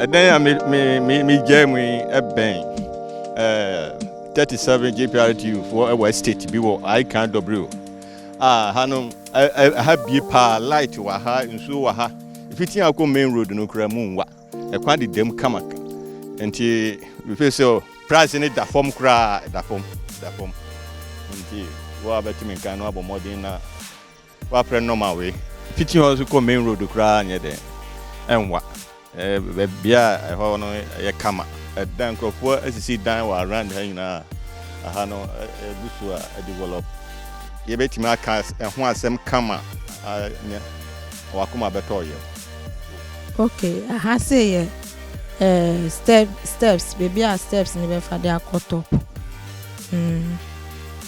Ɛdɛn a megyae mu yi bɛn 37 JPRTU foɔ wɔ estate bi wɔ Aikan Dobrio a ha no ha bie paa light wɔ ha nsuo wɔ ha fiti akɔ main road no kura mu nwa ɛkwan de dam kama nti before sɛ price ne da fam koraa da fam da fam nti wo a bɛtumi nkan no abɔ mmɔden na W'aprɛ nɔma wei fiti hɔ nso kɔ main road koraa nyɛ dɛn ɛnwa ɛɛ bia ɛhɔ no yɛ kama ɛdan nkorɔfoɔ asisi dan wɔ around ha nyinaa aha no ɛgu so a develop yɛbɛtumi aka ɛho asɛm kama nyɛ wakoma bɛtɔ yɛm. Ok aha sei yɛ ɛɛ step steps baabi a steps no bɛfa de akɔ top mm.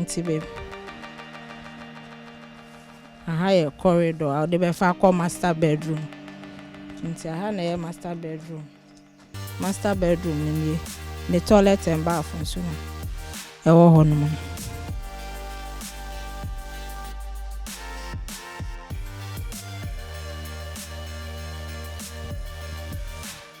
Nti be aha yɛ corridor a wɔde bɛfa akɔ master bedroom. Nti aha na ɛyɛ master bedroom. Master bedroom no nie. Ne toilet and bath nso no ɛwɔ hɔ nom.